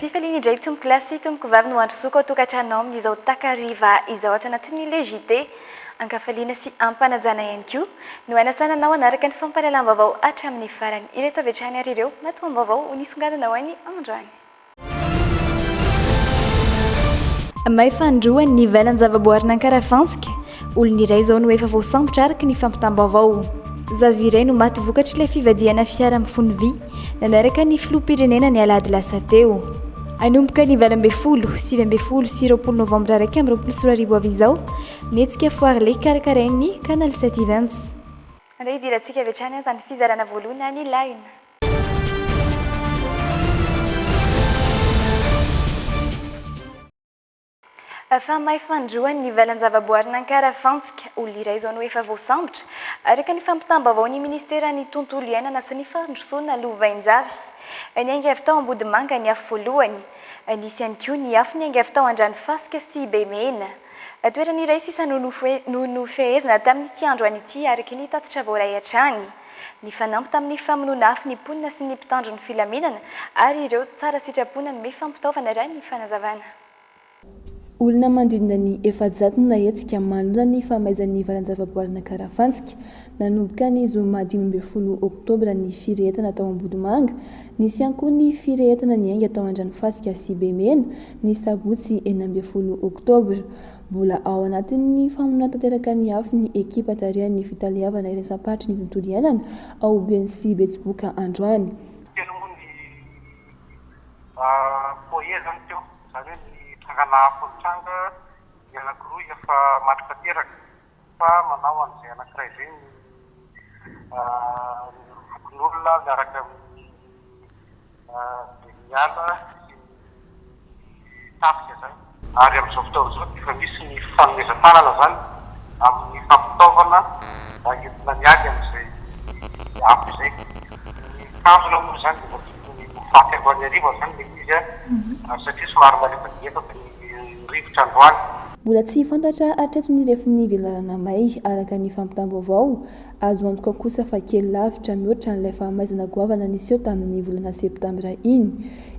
Fifaliana indray tompoko lahy sy tompoko vavy no handrosoako ao an-tokantrano ao amin'izao takariva izao ato anatin'ilay JT. An-kafaliana sy am-panajana ihany koa no hanasana anao hanaraka ny fampahalalam-baovao hatramin'ny farany. Ireto avy hatrany ary ireo matoam-baovao ho nisongadina ho an'i Andriana. May fandroany ny ivelan-javaboarin'Ankarafantsika, olona iray izao no efa voasambotra araka ny fampitam-baovao. Zaza iray no maty vokatr'ilay fivadihana fiara mifono vy nanaraka ny filoham-pirenena ny alahady lasa teo. Hanomboka ny valo ambin'ny folo, sivy ambin'ny folo sy roapolo novambra iraika amby roapolo sy roa arivo avy izao ny hetsika Foire Lake karakarain'ny Canal Set Events. Andeha hidirantsika avy hatrany an, tany fizarana voalohany any Laina. Fa may fandroany ny valan-javaboarin'Ankara Fantsika, olona iray izao no efa voasambotra, araka ny fampitam-baovaon'ny Ministeran'ny Tontolo Iainana sy ny Fandrosoana Lovainjavy. Niainga avy tao Ambodimanga ny afo voalohany. Nisy ihany koa ny afo niainga avy tao Andranofasika sy Bemena. Toerana iray sisa no nofehezina tamin'ity andro an'ity, araka ny tatitra voaray hatrany. Nifanampy tamin'ny famonoana afo ny mponina sy ny mpitandro ny filaminana ary ireo tsara sitrapo nanome fampitaovana raha ny fanazavana. Olona manodidina ny efajato no nahetsika manohana ny famaizan'ny valan-javaboarin'Ankarafantsika. Nanomboka ny zoma dimy ambin'ny folo oktobra ny firehetana tao Ambohimanga. Nisy ihany koa ny firehetana niainga tao Andranofasika sy Bemena, ny sabotsy enina ambin'ny folo oktobra. Mbola ao anatin'ny famonoana tanteraka ny afo ny ekipa tarihan'ny Fitaleavana Iraisam-paritry ny Tontolo Iainana ao Beny sy Betsiboka androany. Telo moa ny foyer zany teo, zany hoe ny trangana afo nitranga, ny anankiroa efa maty tanteraka. fa manao an'izay anankiray izay ny fokonolona miaraka amin'ny Deniala sy ny tafika izany. Ary amin'izao fotoana izao dia efa misy ny fanomezan-tanana izany amin'ny fampitaovana entina miady amin'izay afo izay. Ny tanjona moa izany dia mba tokony ho faty androany hariva izany ilay izy satria somary malembalembaky ny. ny rivotra androany. Mbola tsy fantatra hatreto ny refin'ny velarana may, araka ny fampitam-baovao azo antoka kosa fa kely lavitra mihoatra an'ilay fahamaizana goavana niseho tamin'ny volana septambra iny.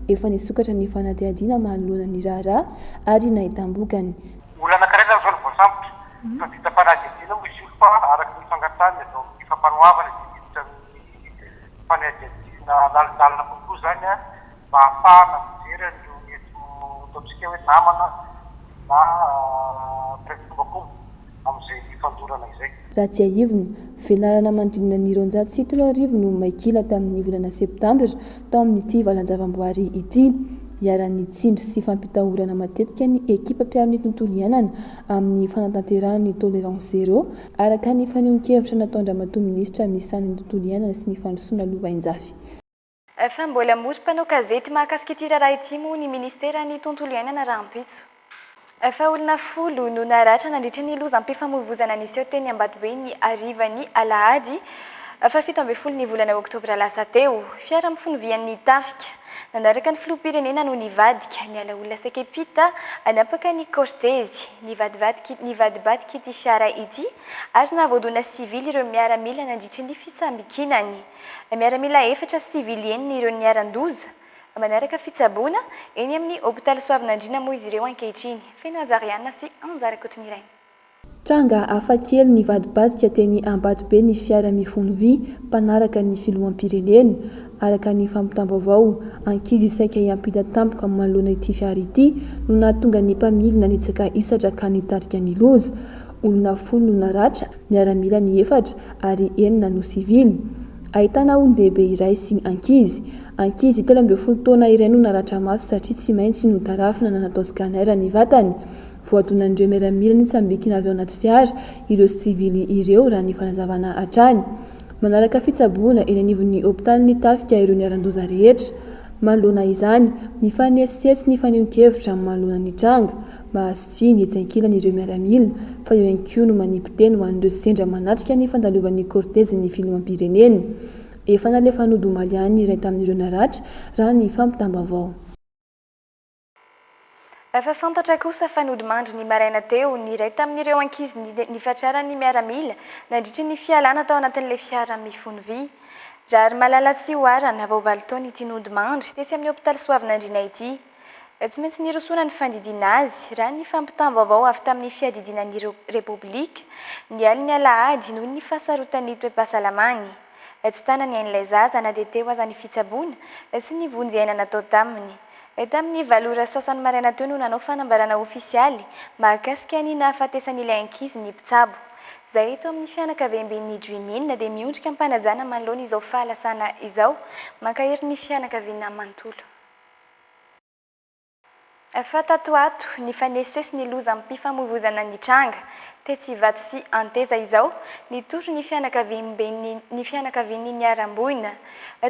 Efa nisokatra ny fanadihadiana manoloana ny raharaha ary nahitam-bokany. Olana karena izao no voasambotra. Efa vita fanadihadiana moa izy io fa araka ny fangatahany avy ao amin'ny fampanoavana dia hiditra amin'ny fanadihadiana lalindalina kokoa izany. mba hahafahana mijery an'ireo mety ho ataontsika hoe namana na mpiray-fombakomba amin'izay fandorana izay. Raha tsiahivina, velarana manodidina ny roanjato sy telo arivo no may kila tamin'ny volana septambra tao amin'ity valan-javamboary ity. Iharan'ny tsindry sy fampitahorana matetika ny ekipa mpiaro ny tontolo iainana amin'ny fanatanterahana ny Tolérance Zéro, araka ny fanehoan-kevitra nataon-dRamatoa Minisitra misahana ny Tontolo iainana sy ny Fandrosoana Lovainjafy. Efa mbola hamory mpanao gazety mahakasika ity raharaha ity moa ny Ministeran'ny Tontolo Iainana rahampitso. Efa olona folo no naratra nandritra ny lozam-pifamoivoizana niseho teny Ambatobe ny harivan'ny alahady fahafito ambin'ny folo ny volana oktobra lasa teo. Fiara mifono vy an'ny tafika nanaraka ny filoham-pirenena no nivadika niala olona saikepita hanampaka ny kaortezy. Nivadibadik'ity fiara ity ary nahavoadona sivily ireo miaramila nandritra ny fitsambikinany. Miaramila efatra sivily enina ireo niharan-doza. Manaraka fitsaboana eny amin'ny hopitaly Soavinandriana moa izy ireo ankehitriny. Feno haja Riana sy Anja Rakotonirainy. Tranga hafakely nivadibadika teny Ambatobe ny fiara mifono vy mpanaraka ny filoham-pirenena. Araka ny fampitam-baovao, ankizy saika hiampita tampoka manoloana ity fiara ity no nahatonga ny mpamily nanitsaka hisatra ka nitarika ny loza. Olona folo no naratra, miaramila ny efatra ary enina no sivily. Ahitana olon-dehibe iray sy ankizy. Ankizy telo ambin'ny folo taona iray no naratra mafy satria tsy maintsy notarafina na natao scanner ny vatany. Voadonan'ireo miaramila nitsambikina avy ao anaty fiara ireo sivily ireo raha ny fanazavana hatrany. Manaraka fitsaboana eny anivon'ny hopitalin'ny tafika ireo niharan-doza rehetra. Manoloana izany, mifanesisesy ny fanehoan-kevitra manoloana ny tranga. Mahazo tsihy ny etsy ankilany ireo miaramila, fa eo ihany koa no manipoteny ho an'ireo sendra manatrika ny fandalovan'ny kortezin'ny filoham-pirenena. Efa nalefa nody omaly ihany ny iray tamin'ireo naratra, raha ny fampitam-baovao. Efa fantatra kosa fa nody mandry ny maraina teo ny iray tamin'ireo ankizy nifatraran'ny miaramila nandritra ny fialana tao anatin'ilay fiara mifono vy. Raharimalala Tsihoarana, vao valo taona ity nody mandry tetsy amin'ny hopitaly Soavinandriana ity. Tsy maintsy nirosoana ny fandidiana azy, raha ny fampitam-baovao avy tamin'ny Fiadidiana ny Repoblika, ny alin'ny alahady, noho ny fahasarotan'ny toe-pahasalamany. Tsy tana ny ain'ilay zaza na dia teo aza ny fitsaboana sy ny vonjy aina natao taminy. Tamin'ny valo ora sasany maraina teo no nanao fanambarana ofisialy mahakasika ny nahafatesan'ilay ankizy ny mpitsabo. Izahay eto amin'ny fianakaviamben'ny Dream-In dia miondrika am-panajana manoloana izao fahalasana izao. Mankahery ny fianakaviana manontolo. Efa tato ato, nifanesisesy ny lozam-pifamoivoizana nitranga, tetsy Ivato sy Anteza izao, nitory ny fianakaviamben'ny ny fianakavian'ny niharam-boina.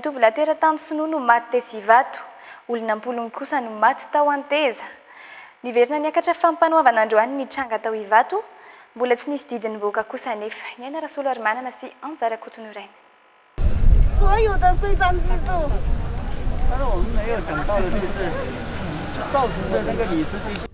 Tovolahy teratany sinoa no maty tetsy Ivato. Olona am-polony kosa no maty tao Anteza. Niverina niakatra fampanoavana androany ny tranga tao Ivato. Mbola tsy nisy didy nivoaka kosa anefa. Ny an'i Rasolarimanana sy Anja Rakotoniraina.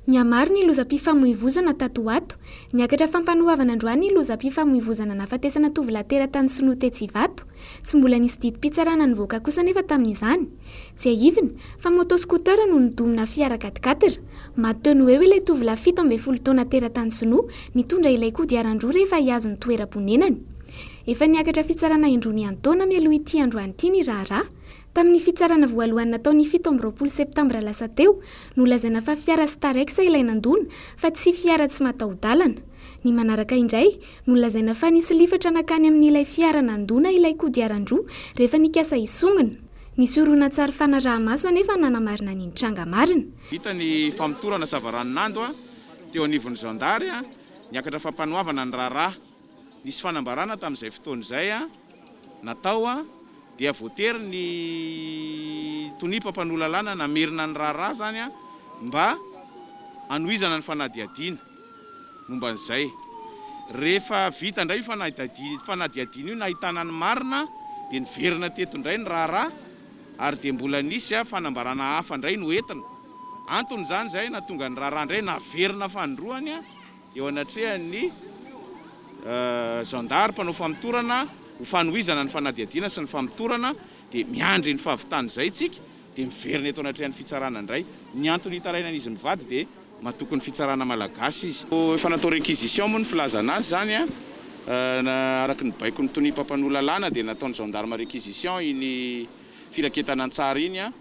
Nihamaro ny lozam-pifamoivoizana tato ho ato. Niakatra fampanoavana androany ny lozam-pifamoivoizana nahafatesana tovolahy teratany sinoa tetsy Ivato. Tsy mbola nisy didim-pitsarana nivoaka kosa anefa tamin'izany. Tsiahivina, fa moto scooter no nodonina fiara quat-quatre. Maty teo no eo ilay tovolahy fito ambin'ny folo taona teratany sinoa, nitondra ilay kodiaran-droa rehefa hihazo ny toeram-ponenany. Efa niakatra fitsarana indroa niantaona mialoha ity androany ity ny raharaha. Tamin'ny fitsarana voalohany natao ny fito amby roapolo septambra lasa teo, nolazaina fa fiara Starex ilay nandona fa tsy fiara tsy mataho-dalana. Ny manaraka indray, nolazaina fa nisy lifatra nankany amin'ilay fiara nandona ilay kodiaran-droa rehefa nikasa hisongona. Nisy horonantsary fanaraha-maso anefa nanamarina ny nitranga marina. Vita ny famotorana savaranonando teo anivon'ny zandary. Niakatra fampanoavana ny raharaha. Nisy fanambarana tamin'izay fotoana izay natao dia voatery ny tonia mpampanoa lalàna namerina ny raharaha izany mba hanohizana ny fanadihadiana momba an'izay. Rehefa vita indray io fanadihadiana io nahitana ny marina dia niverina teto indray ny raharaha ary dia mbola nisy fanambarana hafa indray noentina. Anton'izany izay nahatonga ny raharaha indray naverina fanindroany. eo anatrehan'ny zandary mpanao famotorana ho fanohizana ny fanadihadiana sy ny famotorana dia miandry ny fahavitan'izay isika dia miverina eto anatrehan'ny fitsarana indray. Ny antony hitarainan'izy mivady dia matoky ny fitsarana malagasy izy. Efa natao requisition moa ny filazana azy izany an! araka ny baikon'ny tonia mpampanoa lalàna dia nataon'ny gendarme requisition iny firaketana an-tsary iny an!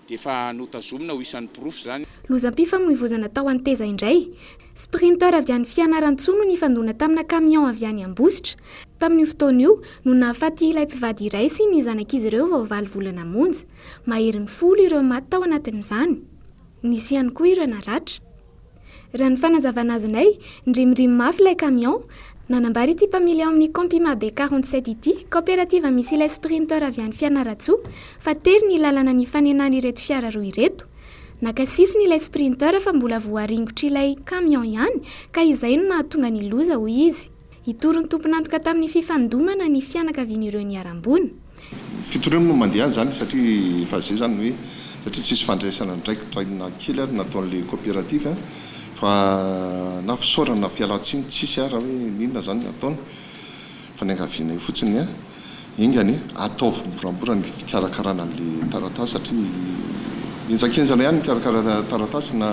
dia efa notazomina ho isan'ny porofo izany. Lozam-pifamoivoizana tao Anteza indray. Sprinter avy any Fianarantsoa no nifandona tamina camion avy any Ambositra. Tamin'io fotoana io no nahafaty ilay mpivady iray sy ny zanak'izy ireo vao valo volana monja. Maherin'ny folo ireo maty tao anatin'izany. Nisy ihany koa ireo naratra. Raha ny fanazavana azonay, nirimorimo mafy ilay camion, nanambara ity mpamily ao amin'ny Compima be 47 ity, kaoperativa misy ilay Sprinter avy any Fianarantsoa, fa tery ny lalana nifanenana ireto fiara roa ireto. Naka sisiny ilay Sprinter fa mbola voaringotr'ilay camion ihany ka izay no nahatonga ny loza, hoy izy. Hitory ny tompon'antoka tamin'ny fifandomana ny fianakavian'ireo niharam-boina. Fitoriana no mandeha any izany satria efa izay izany ny hoe satria tsisy fandraisana andraikitra inona na kely ary nataon'ilay coopérative fa na fisaorana na fialan-tsiny tsisy ary hoe inona izany ny ataony fa niangaviana eo fotsiny ny Enga anie, ataovy moramora ny fikarakarana an'ilay taratasy satria henjankenjana ihany mikarakara taratasy na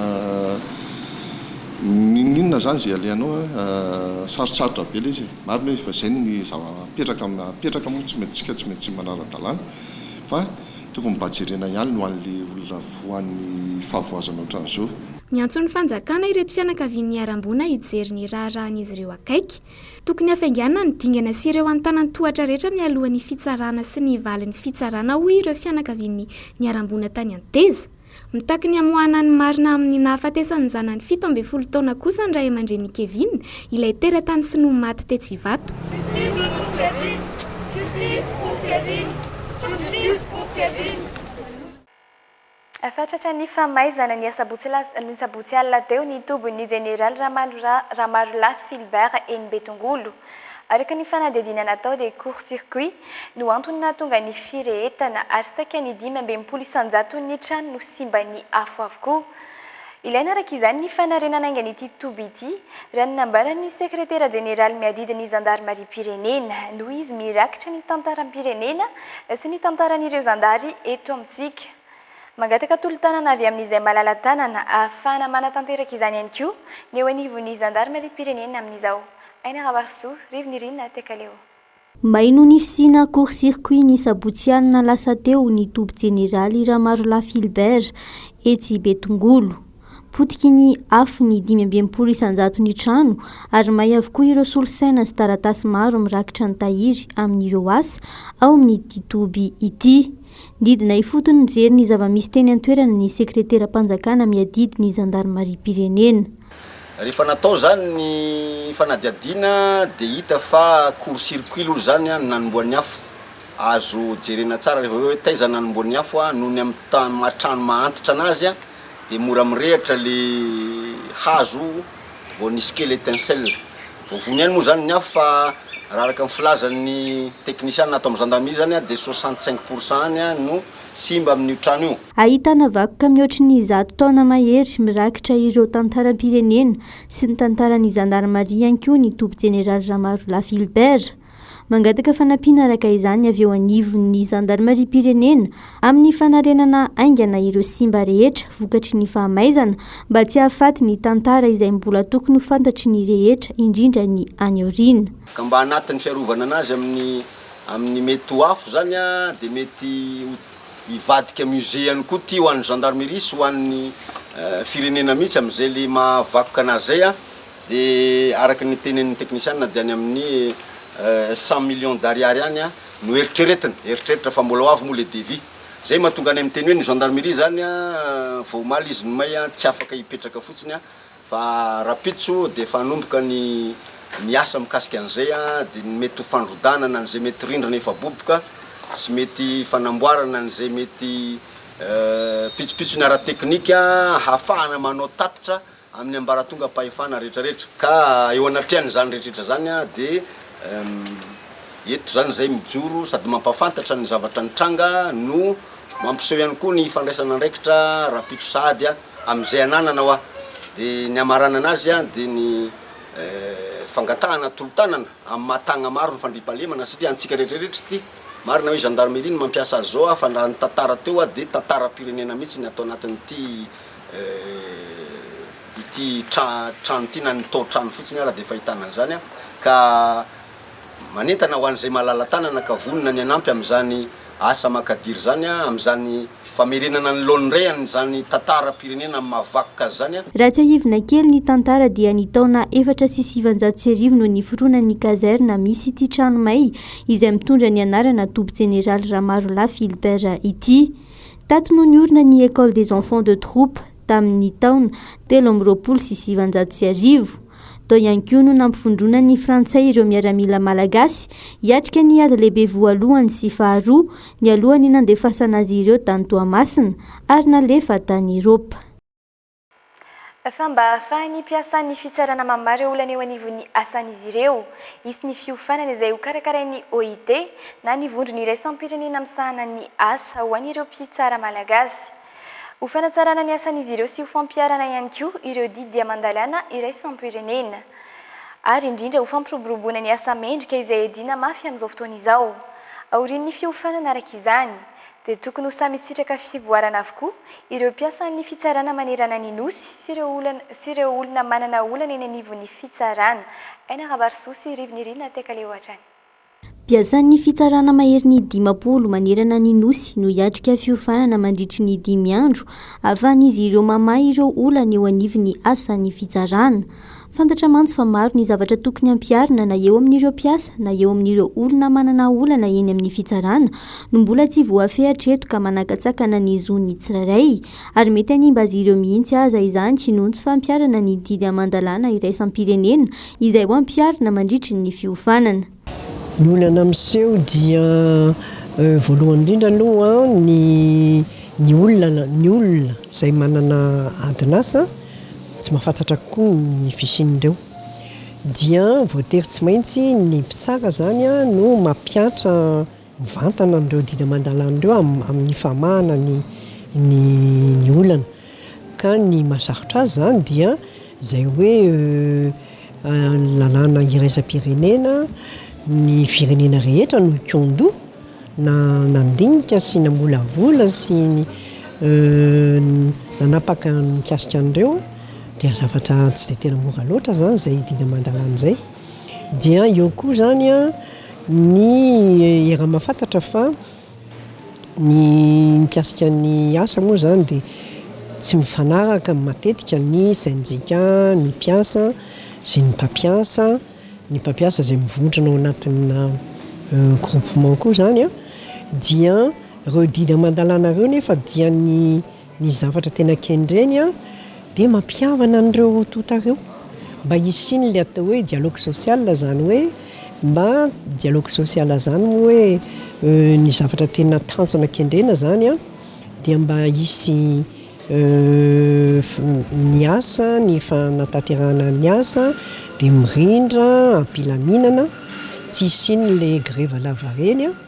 n'inon'inona izany izay alehanao a. Sarotsarotra be ilay izy e. Marina hoe efa izay ny zava-mipetraka amin'ny maha-mipetraka moa tsy maintsy isika tsy maintsy manara-dalàna fa tokony mba jerena ihany ny ho an'ilay olona voan'ny fahavoazana ohatran'izao. Niantso ny fanjakana ireto fianakavian'ny Niharam-boina hijery ny raharahan'izy ireo akaiky. Tokony hafainganina ny dingana sy ireo antanan-tohatra rehetra mialohan'ny fitsarana sy ny valin'ny fitsarana, hoy ireo fianakavian'ny niharam-boina tany Anteza. Mitaky ny hamoahana ny marina amin'ny nahafatesan'ny zanany fito ambin'ny folo taona kosa ny ray aman-drenin'i Kevin, ilay teratany sinoa maty tetsy Ivato. Justice pour Kevin! Justice pour Kevin! Justice pour Kevin! Efa tratran'ny famaizana, ny asabotsy lasa, ny sabotsy alina teo, ny tobin'ny jeneraly Ramarolahy Philbert eny Betongolo. Araka ny fanadihadiana natao dia court circuit no antony nahatonga ny firehetana ary saika ny dimy ambin'ny folo isan-jaton'ny trano no simban'ny afo avokoa. Ilaina araka izany ny fanarenana haingana ity toby ity, raha ny nambaran'ny sekretera jeneraly miadidy ny zandarimariam-pirenena, noho izy mirakitra ny tantaram-pirenena sy ny tantaran'ireo zandary eto amintsika. Mangataka tolo-tanana avy amin'izay malala-tanana ahafahana manatanteraka izany ihany koa ny eo anivon'ny zandarimariam-pirenena amin'izao. Aina Rahavarosoa, Rivo Nirina, Tekaleo. May no nisiana court circuit ny sabotsy alina lasa teo ny toby jeneraly Ramarolahy Philbert etsy Betongolo. Potiky ny afo ny dimy amby enimpolo isanjato ny trano ary may avokoa ireo solosaina sy taratasy maro mirakitra ny tahiry amin'ireo asa ao amin'ity toby ity. Nidina ifotony nijery ny zava-misy teny an-toerana ny sekreteram-panjakana miadidy ny zandarimariam-pirenena. Rehefa natao izany ny fanadihadiana dia hita fa court circuit aloha izany no nanombohan'ny afo. Azo jerena tsara raha vao hoe taiza no nanombohan'ny afo, noho ny amin'ny tany maha-trano maha-antitra an'azy dia mora mirehitra ilay hazo vao nisy kely étincelle. Vao vonona ihany moa izany ny afo fa raha araka ny filazan'ny teknisiana ato amin'ny zandarimeria izany dia soixante cinq pour cent any no simba amin'io trano io. Ahitana vakoka mihoatry ny zato taona mahery mirakitra ireo tantaram-pirenena sy ny tantaran'ny zandarimaria ihany koa ny toby jeneraly Ramarolahy Philbert. Mangataka fanampiana araka izany avy eo anivon'ny zandarimariam-pirenena amin'ny fanarenana haingana ireo simba rehetra vokatry ny fahamaizana mba tsy hahafaty ny tantara izay mbola tokony ho fantatry ny rehetra indrindra ny any aoriana. Ka mba anatin'ny fiarovana anazy amin'ny amin'ny mety ho afo izany dia mety ho. Hivadika musée ihany koa ity ho an'ny gendarmerie sy ho an'ny firenena mihitsy amin'izay le maha vakoka anazy zay an! de araka ny tenenin'ny teknisianina dia any amin'ny cent millions d'ariary any an! no eritreretina, eritreritra fa mbola ho avy moa le devis! zay mahatonga anay miteny hoe ny gendarmerie zany an! vao omaly izy nomay an! tsy afaka hipetraka fotsiny an! Fa rahampitso dia efa hanomboka ny ny asa mikasika an'izay dia ny mety ho fandrodanana an'izay mety rindrina efa boboka sy mety fanamboarana an'izay mety pitsopitsony ara-teknika hahafahana manao tatitra amin'ny ambaratongam-pahefana rehetrarehetra. Ka eo anatrehan'izany rehetrarehetra izany dia eto izany izay mijoro sady mampahafantatra ny zavatra nitranga no mampiseho ihany koa ny ifandraisan'andraikitra rahampitso sahady Amin'izay ananana hoa. Dia ny hamaranana azy dia ny fangatahana tolo-tanana amin'ny maha tagna maro ny fandriampahalemana satria antsika rehetra rehetra ity. Marina hoe gendarmerie no mampiasa azy zao fa raha ny tantara teo hoa dia tantaram-pirenena mihitsy ny ato anatin'ity ity trano ity na ny tao-trano fotsiny ara dia fahitana an'izany ka Manentana ho an'izay malala-tanana ka vonona ny hanampy amin'izany asa makadiry izany, amin'izany famerenana ny laoniny iray an'izany tantaram-pirenena amin'ny maha vakoka azy izany, Raha tsiahivina kely ny tantara dia ny taona efatra sy sivanjato sy arivo no niforonan'ny kazerna misy ity trano may izay mitondra ny anarana Toby Jeneraly Ramarolahy Philbert ity. Tato no niorina ny Ecole des enfants de troupes. tamin' ny taona telo amby roapolo sy sivinjato sy arivo. Tao ihany koa no nampivondronan' ny Frantsay ireo miaramila malagasy hiatrika ny ady lehibe voalohany sy faharoa nialohan' ny nandefasana azy ireo tany Toamasina ary nalefa tany Erôpa. Fa mba hahafahan' ny mpiasan' ny fitsarana mamaha ireo olana eo anivon' ny asan' izy ireo, hisy ny fiofanana izay hokarakarain' ny OIT na ny vondrona iraisam-pirenena misahana ny asa ho an' ireo mpitsara malagasy. Ho fanatsarana ny asan'izy ireo sy ho fampiharana ihany koa ireo didy dia mandalàna iraisam-pirenena. Ary indrindra ho fampiroboroboana ny asa mendrika izay iadiana mafy amin'izao fotoana izao. Aorian'ny fiofanana araka izany, dia tokony ho samy hisitraka fivoarana avokoa ireo mpiasan'ny fitsarana manerana ny Nosy sy ireo olana sy ireo olona manana olana eny anivon'ny fitsarana. Enarabarisoa sy Rivo Nirina Tekaleo hatrany. Mpiasan'ny fitsarana maherin'ny dimampolo manerana ny Nosy no hiatrika fiofanana mandritry ny dimy andro ahafahan'izy ireo mamaha ireo olana eo anivon'ny asan'ny fitsarana. Fantatra mantsy fa maro ny zavatra tokony hampiharina na eo amin'ireo mpiasa na eo amin'ireo olona manana olana eny amin'ny fitsarana no mbola tsy voafehy hatreto ka manakatsakana ny zon'ny tsirairay ary mety hanimba azy ireo mihitsy aza izany noho ny tsy fampiharana ny didy aman-dalàna iraisam-pirenena izay ho ampiharina mandritry ny fiofanana. Ny olana miseho dia voalohany indrindra aloha ny ny olana ny olona izay manana adin'asa tsy mahafantatra koa ny fisian'ireo dia voatery tsy maintsy ny mpitsara izany no mampihatra Mivantana amin'ireo didy aman-dalàna ireo amin'ny famahana ny ny olana. Ka ny mahasarotra azy izany dia izay hoe lalàna iraisam-pirenena, ny firenena rehetra no hikondò na nandinika sy namolavola sy nanapaka mikasika an'ireo dia zavatra tsy dia tena mora loatra izany izay didy aman-dalàna izay. Dia eo koa izany an. Ny era mahafantatra fa ny mikasika ny asa moa izany dia tsy mifanaraka matetika ny sain-JK, ny mpiasa sy ny mpampiasa, ny mpampiasa izay mivontrona ao anatinà groupement koa izany an, dia ireo didy aman-dalàna ireo nefa dia ny Ny zavatra tena kendreny dia mampihavana an'ireo roa tonta ireo mba hisian'ilay atao hoe dialogue social, izany hoe mba dialogue social izany moa hoe ny zavatra tena tanjona kendrena izany dia mba hisy ny asa, ny fanatanterahana ny asa dia mirindra am-pilaminana, tsy hisian'ilay grevy lavareny.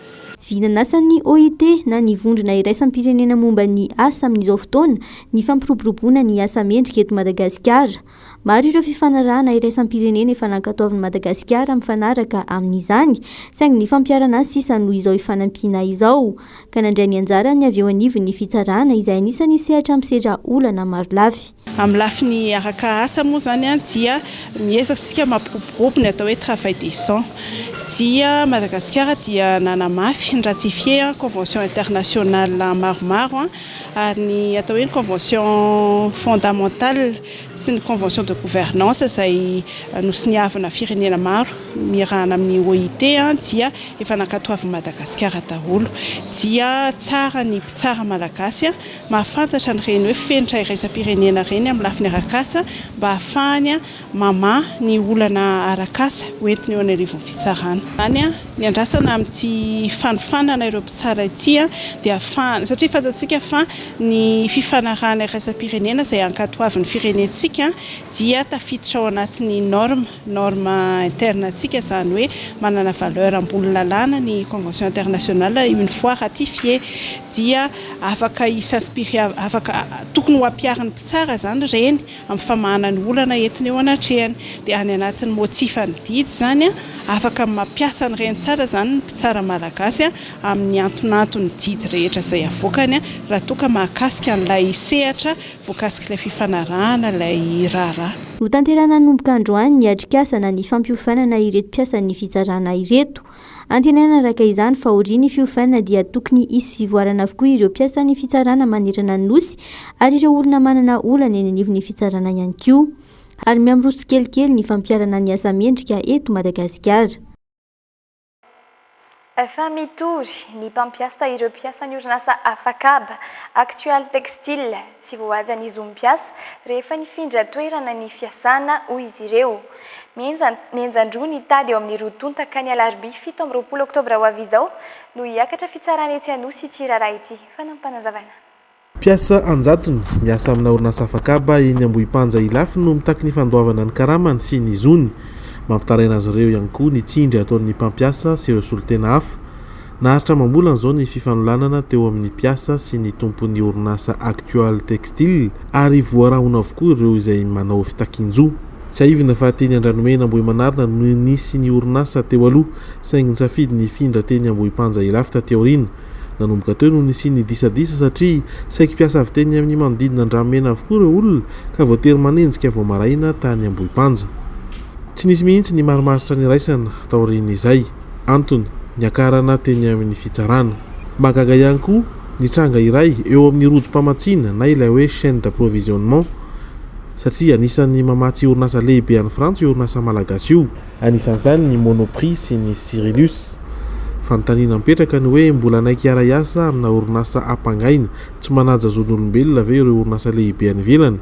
Vy nanasan'ny OIT na ny Vondrona Iraisam-pirenena Momba ny Asa amin'izao fotoana ny fampiroboroboana ny asa mendrika eto Madagasikara. Maro ireo fifanarahana iraisam-pirenena efa nankatoavin'i Madagasikara mifanaraka amin'izany saingy ny fampiharana sisa no izao ifanampiana izao ka nandray ny anjarany avy eo anivon'ny fitsarana izay anisan'ny sehatra misedra olana marolafy. Amin'ny lafiny araka asa moa izany dia miezaka isika mampiroborobo ny atao hoe travail décent dia Madagasikara dia nanamafy, ni-ratifier, convention internationale maromaro ary ny atao hoe ny convention fondamentale sy ny convention de gouvernance izay nosoniavina firenena maro miarahana amin'ny OIT dia efa nankatoavin'i Madagasikara daholo dia tsara ny mpitsara malagasy mahafantatra an'ireny hoe fenitra iraisam-pirenena ireny amin'ny lafiny arak'asa mba hahafahany mamaha ny olana arak'asa ho entiny eo an'arivon'ny fitsarana. Izany ny andrasana amin'ity fanofanana ireo mpitsara ity dia hahafahana, satria fantatsika fa ny fifanarahana iraisam-pirenena izay ankatoavin'ny firenentsika dia tafiditra ao anatin'ny norme, norme interne antsika izany hoe manana valeur ambony lalàna ny convention internationale une fois ratifié dia afaka hi s'inspirer afaka tokony ho ampiharin'ny mpitsara izany ireny amin'ny famahana ny olana entiny eo anatrehany dia any anatin'ny motifan'ny didy izany afaka mampiasa an'ireny tsara izany ny mpitsara malagasy amin'ny antonanton'ny didy rehetra izay avoakany raha toa ka mahakasika an'ilay sehatra Voakasik'ilay fifanarahana ilay raharaha. Hotanterahina hanomboka androany ny atrikasa na ny fampiofanana ireto mpiasan'ny fitsarana ireto. Antenaina araka izany fa aorian'ny fiofanana dia tokony hisy fivoarana avokoa ireo mpiasan'ny fitsarana manerana ny Nosy ary ireo olona manana olana eny anivon'ny fitsarana ihany koa. Ary mihamiroso tsikelikely ny fampiharana ny asa mendrika eto Madagasikara. Efa mitory ny mpampiasa ireo mpiasan'ny orinasa Afakab, Actual Textile. Tsy voahaja ny zon'ny mpiasa rehefa nifindra toerana ny fiasana, hoy izy ireo. Mihenja mihenjan-droa ny tady eo amin'ny roa tonta ka ny alarobia fito amby roapolo oktobra ho avy izao no hiakatra fitsarana etsy Anosy ity raharaha ity, fanampim-panazavana. Mpiasa an-jatony miasa amina orinasa afakaba eny Ambohipanja Ilafy no mitaky ny fandoavana ny karamany sy ny zony. Mampitaraina azy ireo ihany koa ny tsindry ataon'ny mpampiasa sy ireo solontena hafa. Naharitra amam-bolana izao ny fifanolanana teo amin'ny mpiasa sy ny tompon'ny orinasa Actual Textile ary voarahona avokoa ireo izay manao fitakian-jo. Tsiahivina fa teny Andranomena Ambohimanarina no nisy ny orinasa teo aloha saingy nisafidy ny hifindra teny Ambohipanja Ilafy taty aoriana. Nanomboka teo no nisian'ny disadisa satria saiky mpiasa avy teny amin'ny manodidina Andramena avokoa ireo olona ka voatery manenjika vao maraina tany Ambohipanja. Tsy nisy mihitsy ny marimaritra niraisana taorian'izay. Antony, niakarana teny amin'ny fitsarana. Mahagaga ihany koa ny tranga iray eo amin'ny rojom-pamatsiana na ilay hoe chaine d'approvisionnement satria anisan'ny mamatsy orinasa lehibe any Frantsa io orinasa malagasy io. anisan'izany ny Monoprix sy ny Cyrillus. Fanontaniana mipetraka ny hoe mbola hanaiky hiara-hiasa amina orinasa ampangaina? Tsy manaja zon'olombelona ve ireo orinasa lehibe any ivelany?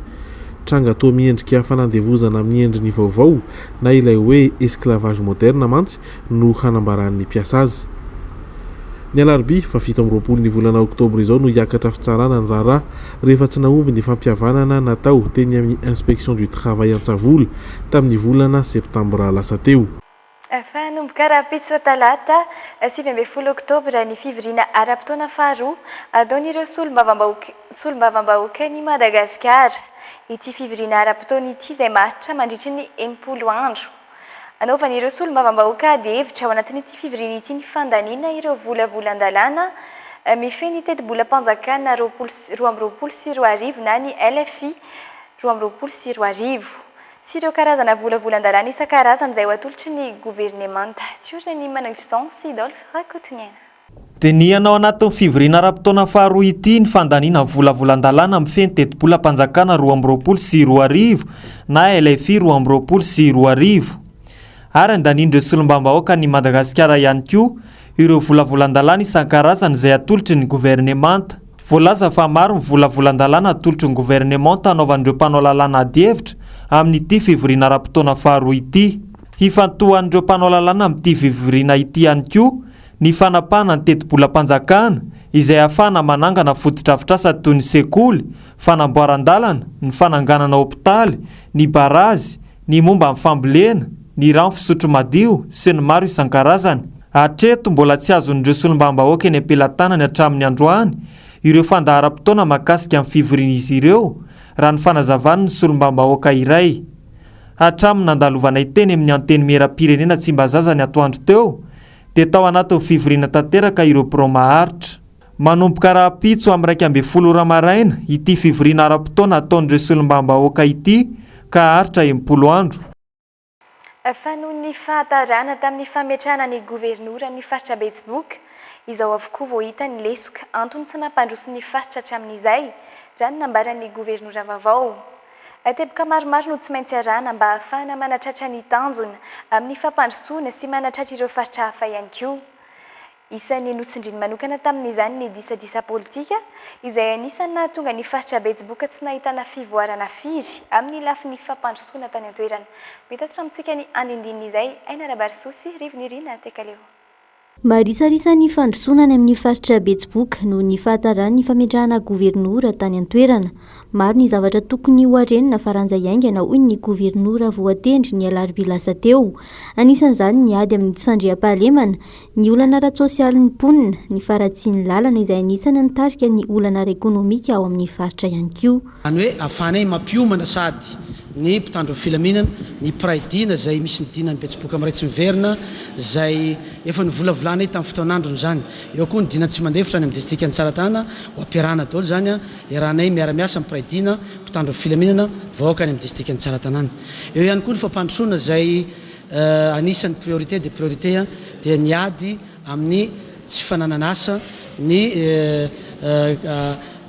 Tranga toa miendrika fanandevozana amin'ny endriny vaovao, na ilay hoe esclavage moderne mantsy no hanambaran'ny mpiasa azy. Ny alarobia fahafito amby roapolo ny volana oktobra izao no hiakatra fitsarana ny raharaha rehefa tsy nahomby ny fampihavanana natao teny amin'ny Inspection du Travail Antsavola tamin'ny volana septambra lasa teo. Efa hanomboka rahampitso talata sivy ambin'ny folo oktobra ny fivoriana ara-potoana faharoa ataon'ireo solombavambahoaka solombavambahoakan'i Madagasikara. Ity fivoriana ara-potoana ity izay maharitra mandritry ny enimpolo andro. Anaovan'ireo solombavambahoaka ady hevitra ao anatin'ity fivoriana ity ny fandaniana ireo volavolan-dalàna mifehy ny tetibolam-panjakana roapolo sy roa amby roapolo sy roa arivo na ny LFI roa amby roapolo sy roa arivo sy ireo karazana volavolan-dalàna isan-karazany izay ho atolotry ny governemanta. Tsy ory ny Manangy Vincent sy Dolph Rakotoniaina. Dinihana ao anatin'ny fivoriana ara-potoana faharoa ity ny fandaniana ny volavolan-dalàna mifehy ny tetibolam-panjakana roa amby roapolo sy roa arivo na LFI roa amby roapolo sy roa arivo ary andanian'ireo solombavambahoakan'i Madagasikara ihany koa ireo volavolan-dalàna isan-karazany izay atolotry ny governemanta. Voalaza fa maro ny volavolan-dalàna atolotry ny governemanta hanaovan'ireo mpanao lalàna adihevitra amin'ity fivoriana ara-potoana faharoa ity. Hifantohan'ireo mpanao lalàna amin'ity fivoriana ity ihany koa ny fanapahana ny tetibolam-panjakana izay ahafahana manangana fotodrafitrasa toy ny sekoly, fanamboaran-dalana, ny fananganana hopitaly, ny barazy, ny momba ny fambolena, ny rano fisotro madio sy ny maro isan-karazany. Hatreto, mbola tsy azon'ireo solombavambahoaka eny am-pelatanany hatramin'ny androany ireo fandaharam-potoana mahakasika ny fivorian'izy ireo, raha ny fanazavan'ny solombavambahoaka iray. Hatramin'ny nandalovanay teny amin'ny Antenimieram-pirenena Tsimbazaza ny atoandro teo, dia tao anatin'ny fivoriana tanteraka ireo birao maharitra. Manomboka rahampitso amin'ny iraika ambin'ny folo ora maraina ity fivoriana ara-potoana ataon'ireo solombavambahoaka ity ka haharitra enimpolo andro. Fa noho ny fahatarana tamin'ny fametrahana ny governoran'ny faritra Betsiboka, izao avokoa vao hita ny lesoka antony tsy nampandroso ny faritra hatramin'izay, raha ny nambaran'ny governora vaovao. Teboka maromaro no tsy maintsy arahana mba hahafahana manatratra ny tanjona amin'ny fampandrosoana sy manatratra ireo faritra hafa ihany koa. Isan'ny notsindriny manokana tamin'izany ny disadisa politika, izay anisan'ny nahatonga ny faritra Betsiboka tsy nahitana fivoarana firy amin'ny lafiny fampandrosoana tany an-toerana. Mitatitra amintsika ny andinindininy izay Aina Rabarison sy Rivo Nirina Tekaleo. Marisarisa ny fandrosoana any amin'ny faritra Betsiboka noho ny fahataran'ny fametrahana governora tany an-toerana. Maro ny zavatra tokony ho arenina faranja iaingana hoy ny governora voatendry ny alarobia lasa teo. Anisan'izany ny ady amin'ny tsy fandriampahalemana, ny olana ara-tsosialin'ny mponina, ny faharatsian'ny lalana izay anisan'ny nitarika ny olana ara-ekonomika ao amin'ny faritra ihany koa. Zany hoe afahanay mampiomana sady ny mpitandro ny filaminana, ny mpiray dina zay misy ny dinan'ny betsiboka miray tsy miverina zay efa novolavolànay tamin'ny fotoan'androny zany. Eo koa ny dina tsy mandefitra any amin'ny distrikan'i Tsaratanana, ho ampiarahana daholo zany an, iarahanay miara-miasa amin'ny mpiray dina, mpitandro ny filaminana, vahoaka any amin'ny distrikan'i Tsaratanana. Eo ihany koa ny fampandrosoana zay anisan'ny priorité des priorités dia ny ady amin'ny tsy fananan'asa, ny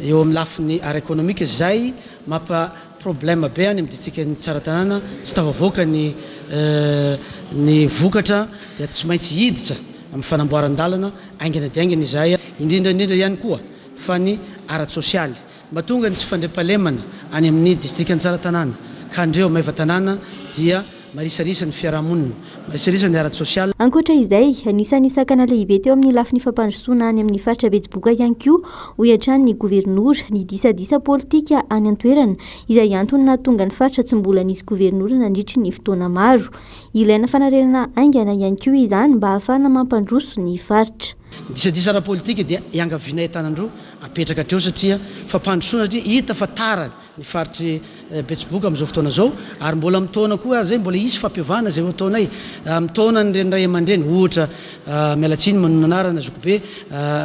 eo amin'ny lafiny ara-ekonomika izay mampa problème be any amin'ny distrikan'i Tsaratanàna, tsy tafavoaka ny ny vokatra dia tsy maintsy hiditra amin'ny fanamboaran-dalana haingana dia haingana izahay, indrindra indrindra ihany koa fa ny ara-tsosialy Mba tonga ny tsy fandriampahalemana any amin'ny distrikan'i Tsaratanàna ka andreo maivan-tanàna dia marisarisa ny fiarahamonina, marisarisa ny ara-tsosial. Ankoatra izay, anisan'ny sakana lehibe teo amin'ny lafiny fampandrosoana any amin'ny faritra Betsiboka ihany koa, hoy hatrany ny governora, ny disadisa politika any an-toerana, izay antony nahatonga ny faritra tsy mbola nisy governora nandritry ny fotoana maro. Ilaina fanarenana haingana ihany koa izany mba hahafahana mampandroso ny faritra. Disadisa ara-politika dia iangavianay an-tanan-droa apetraka hatreo satria fampandrosoana satria hita fa tara ny faritr'i Betsiboka amin'izao fotoana izao ary mbola amin'ny taona koa ary izay mbola hisy fampiovana izay ho ataonay amin'ny taonan'ireny ray aman-dreny ohatra miala tsiny manonona anarana zokibe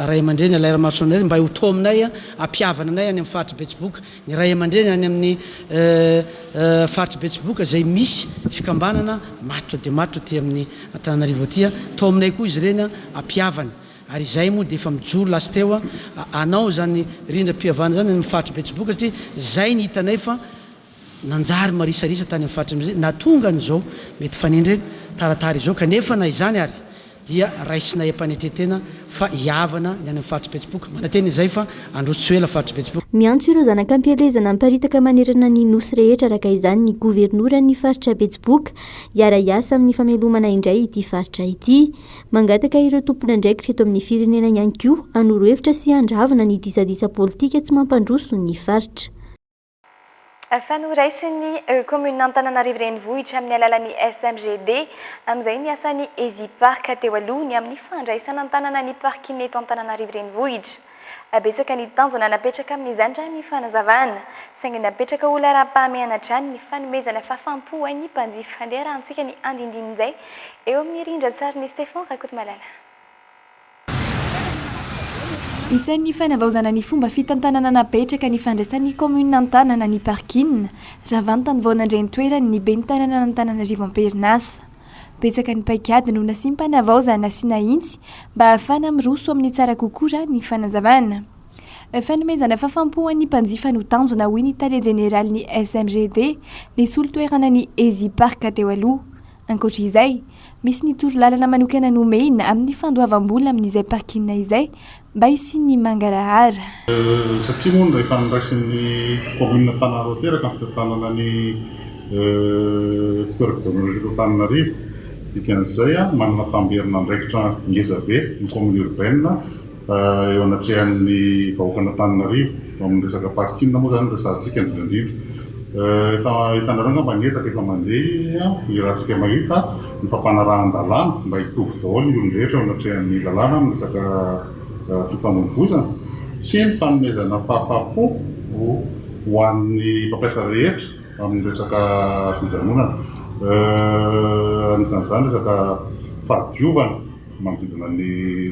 ray aman-dreny Alairamasonary mba ho taominay hampihavana anay any amin'ny faritr'i Betsiboka ny ray aman-dreny any amin'ny faritr'i Betsiboka izay misy fikambanana matotra dia matotra aty amin'ny Antananarivo aty, tao aminay koa izy ireny ampihavany ary izahay moa dia efa mijoro last teo hanao izany rindram-pihavana izany any amin'ny faritr'i Betsiboka satria izay ny hitanay fa nanjary marisarisa tany amin'ny faritra na tonga an'izao mety fanindry taratara izao kanefa na izany ary dia raisinay am-panetren-tena fa hihavana ny any amin'ny faritry Betsiboka. Manantena izay fa handroso tsy ho ela faritry Betsiboka. Miantso ireo zanak'ampielezana miparitaka manerana ny Nosy rehetra araka izany ny governoran'ny faritra Betsiboka hiara-hiasa amin'ny famelomana indray ity faritra ity. Mangataka ireo tompon'andraikitra eto amin'ny firenena ihany koa hanoro hevitra sy handravona ny disadisa politika tsy mampandroso ny faritra. Efa noraisin'ny kaominin'Antananarivo Renivohitra amin'ny alalan'ny SMGD amin'izay ny asan'ny Ezipark teo aloha ny amin'ny fandraisana an-tanana ny parking eto Antananarivo Renivohitra. Betsaka ny tanjona napetraka amin'izany raha ny fanazavana, saingy napetraka ho laharam-pahamehana hatrany ny fanomezana fahafaham-po ho an'ny mpanjifa. Andeha arahantsika ny andindinin'izay eo amin'ny rindran-tsarin'i Stephan Rakotomalala. Isan'ny fanavaozana ny fomba fitantanana napetraka ny fandraisan'ny kaominina an-tanana ny parking raha vantany vao nandray ny toerany ny ben'ny tananan'Antananarivo am-perinasa. Betsaka ny paikady no nasiam-panavaozana sy nahitsy mba hahafana miroso amin'ny tsara kokoa raha ny fanazavana. Fanomezana fahafaham-po ho an'ny mpanjifa no tanjona hoy ny tale jeneralin'ny SMGD nisolo toerana ny Ezipark teo aloha, Ankoatra izay, misy ny torolalana manokana nomena amin'ny fandoavam-bola amin'izay parking izay mba hisian'ny mangarahara. Satria moa no efa noraisin'ny kaominina Antananarivo Ateraka ny fitantanana ny fitoeram-pijanonana eto Antananarivo. Dikan'izay, manana tamberin'andraikitra ngezabe ny kaominina urbaine. Eo anatrehan'ny vahoakan'Antananarivo, eo amin'ny resaka parking moa izany no resahantsika indrindra indrindra. Efa hitanareo angamba ny ezaka efa mandeha, iarahantsika mahita ny fampanarahan-dalàna mba hitovy daholo ny olon-drehetra eo anatrehan'ny lalàna amin'ny resaka fifamoivoizana sy ny fanomezana fahafahampo ho an'ny mpampiasa rehetra amin'ny resaka fijanonana. Anisan'izany resaka fahadiovana. manodidina ny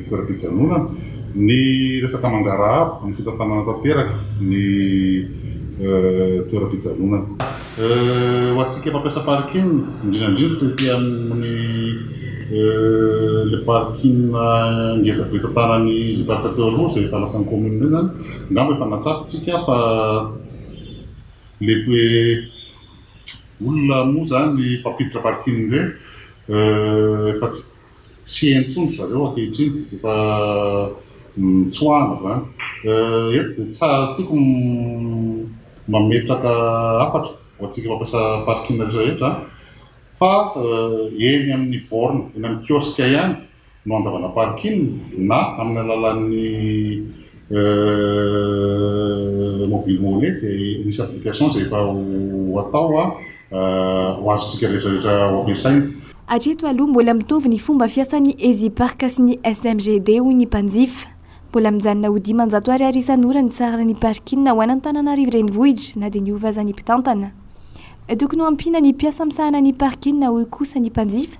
toeram-pijanonana, ny resaka mangarahaba amin'ny fitantanana tanteraka ny toeram-pijanonana. Ho antsika mpampiasa parking, indrindra indrindra tety amin'ny ilay parking ngeza be tantanan'ny Zeparka teo aloha izay efa lasan'ny kaominina eo izany, angamba efa natsatotsika fa ilay hoe olona moa izany mpampiditra parking ireny Efa tsy entso ndry zareo ankehitriny, efa mitsoahana izany. Eto dia tsara, tiako ny mametraka hafatra ho antsika mpampiasa parking rehetra rehetra fa eny amin'ny borne, eny amin'ny kiosque ihany no handravana parking na amin'ny alalan'ny mobile money izay misy application izay efa ho atao ho azontsika rehetra rehetra ho ampiasaina. Hatreto aloha mbola mitovy ny fomba fiasan'ny EasyPark sy ny SMGD hoy ny mpanjifa. Mbola mijanona ho dimanjato ariary isan'ora ny saran'ny parking ho an'Antananarivo renivohitra na dia niova aza ny mpitantana. Tokony ho ampiana ny mpiasa misahana ny parking hoy kosa ny mpanjifa.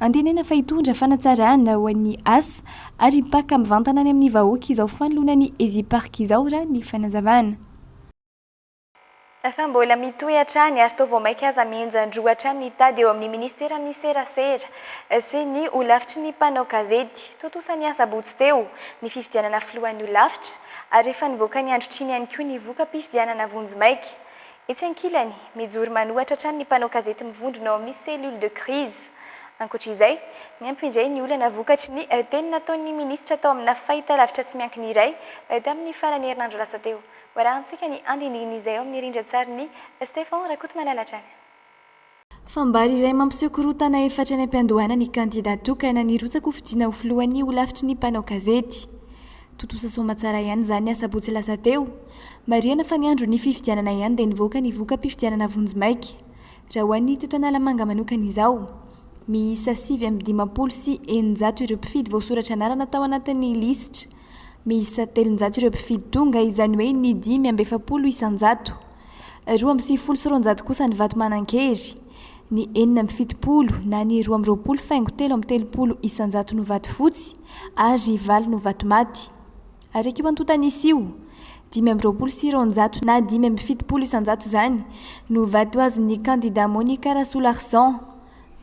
Antenaina fa hitondra fanatsarana ho an'ny asa ary mpaka mivantana any amin'ny vahoaka izao fanoloana ny Ezipark izao raha ny fanazavana. Fa mbola mitohy hatrany ary toa vao mainka aza mihenjan-droa hatrany ny tady eo amin'ny Ministeran'ny Serasera sy ny Holafitry ny Mpanao Gazety. Tontosa ny asabotsy teo ny fifidianana filohan'ny Holafitra ary efa nivoaka ny androtr'iny ihany koa ny voka-pifidianana vonjimaika Etsy ankilany, mijoro manohatra hatrany ny mpanao gazety mivondrona ao amin'ny cellule de crise. Ankoatra izay, niampy indray ny olana vokatry ny teny nataon'ny minisitra tao amina fahitalavitra tsy miankina iray tamin'ny faran'ny herinandro lasa teo. Hoarahantsika ny andinindin'izay ao amin'ny rindran-tsarin'i Stefan Rakotomalala hatrany. Fambara iray mampiseho korontana efatra any am-piandohana ny kandidà tokana nirotsaka ho fidiana ho filohan'ny holafitry ny mpanao gazety. Tontosa soamantsara ihany izany ny asabotsy lasa teo. Marihana fa ny andron'ny fifidianana ihany dia nivoaka ny voka-pifidianana vonjimaika. Raha ho an'ny teto Analamanga manokana izao, miisa sivy amby dimampolo sy eninjato ireo mpifidy voasoratra anarana tao anatin'ny lisitra. Miisa telonjato ireo mpifidy tonga, izany hoe ny dimy amby efapolo isan-jato. Roa amby sivifolo sy roanjato kosa ny vato manan-kery. Ny enina amby fitopolo na ny roa amby roapolo faingo telo amby telopolo isan-jato no vato fotsy ary valo no vato maty. Araka io antontan'isa io, dimy amby roapolo sy roanjato na dimy amby fitopolo isan-jato izany no vato azon'ny kandidà Monica Rasolahrson.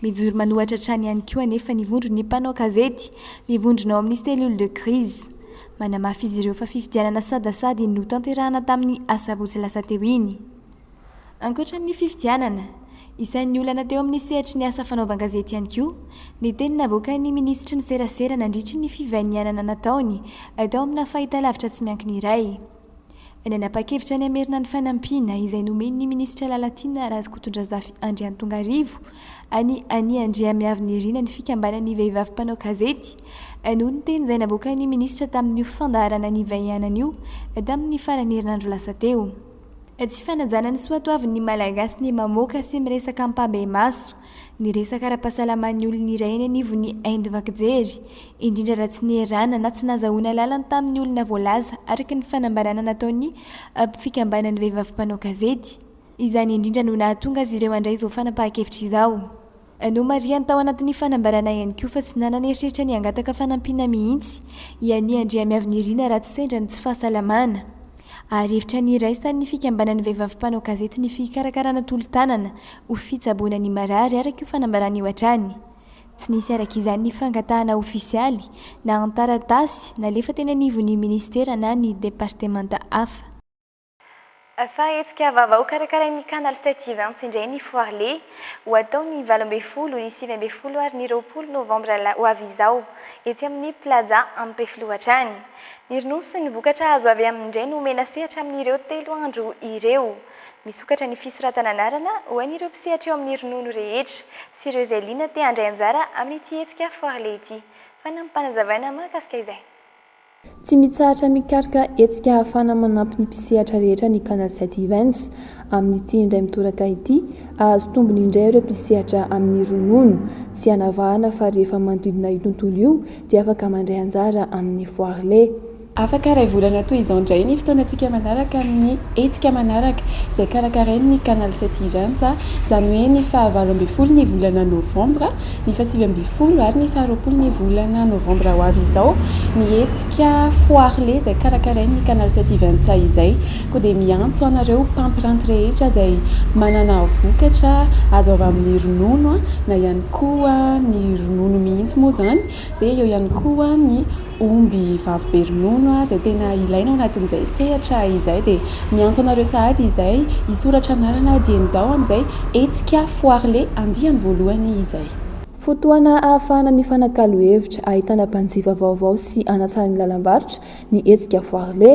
Mijoro manohatra hatrany ihany koa anefa ny vondron'ny mpanao gazety mivondrona ao amin'ny cellule de crise. Manamafy izy ireo fa fifidianana sadasady no tanterahana tamin'ny asabotsy lasa teo iny. Ankoatra ny fifidianana, isan'ny olana teo amin'ny sehatry ny asa fanaovan-gazety ihany koa ny teny navoakan'ny minisitry ny serasera nandritry ny fivanianana nataony tao amina fahitalavitra tsy miankina iray. Nanapa-kevitra ny hamerina ny fanampiana izay nomen'ny minisitra Lalatiana Razokotondrazafy Andriantongarivo an'i Annie Andriamiavinirina ny fikambanan'ny vehivavy mpanao gazety noho ny teny izay navoakan'ny minisitra tamin'io fandaharana nivaihanana io tamin'ny faran'ny herinandro lasa teo. Tsy fanajana ny soatoavin'ny Malagasy ny mamoaka sy miresaka ampahibemaso. Ny resaka ara-pahasalaman'ny olona iray any anivon'ny haindovan-kijery, indrindra raha tsy nierana na tsy nahazahoana alalana tamin'ny olona voalaza araka ny fanambarana nataon'ny fikambanan'ny vehivavy mpanao gazety. Izany indrindra no nahatonga azy ireo handray izao fanapahan-kevitra izao. Nomarihany tao anatin'ny fanambarana ihany koa fa tsy nanana eritreritra ny hangataka fanampiana mihitsy i Annie Andriamiavinirina raha tsy sendra ny tsy fahasalamana. Ary hevitra niraisany ny fikambanan'ny vehivavy mpanao gazety ny fikarakarana tolo-tanana ho fitsaboana ny marary araka io fanambarana io hatrany. Tsy nisy araka izany ny fangatahana ofisialy na an-taratasy nalefa teny anivon'ny minisitera na ny departemanta hafa. Efa hetsika vava hokarakarain'ny Canal sept Events indray ny Foire Lé, ho atao ny valo ambin'ny folo, ny sivy ambin'ny folo ary ny roapolo novambra ho avy izao, etsy amin'ny Plaza Ampefiloha hatrany. Ny ronono sy ny vokatra azo avy aminy indray no omena sehatra amin'ireo telo andro ireo. Misokatra ny fisoratana anarana ho an'ireo mpisehatra eo amin'ny ronono rehetra sy ireo izay liana te handray anjara amin'ity hetsika Foire Lait ity. Fanampim-panazavana mahakasika izay. Tsy mitsahatra mikaroka hetsika ahafahana manampy ny mpisehatra rehetra ny Canal Sept Events. Amin'ity indray mitoraka ity, hahazo tombony indray ireo mpisehatra amin'ny ronono. Tsy anavahana fa rehefa manodidina io tontolo io dia afaka mandray anjara amin'ny Foire Lait. Afaka iray volana toy izao indray ny fotoanantsika manaraka amin'ny hetsika manaraka izay karakarain'ny Canal sept Events, izany hoe ny faha valo ambin'ny folo ny volana novambra, ny faha sivy ambin'ny folo ary ny faha roapolo ny volana novambra ho avy izao, ny hetsika Foire Lait izay karakarain'ny Canal sept Events izay. Koa dia miantso anareo mpampiranty rehetra izay manana vokatra azo avy amin'ny ronono na ihany koa ny ronono mihitsy moa izany dia eo ihany koa ny. omby vavy be ronono izay tena ilaina ao anatin'izay sehatra izay dia miantso anareo sahady izay hisoratra anarana dieny izao amin'izay hetsika Foire-Lé andiany voalohany izay. Fotoana ahafahana mifanakalo hevitra, ahitana mpanjifa vaovao sy hanatsara ny lalam-barotra ny hetsika Foire-Lé.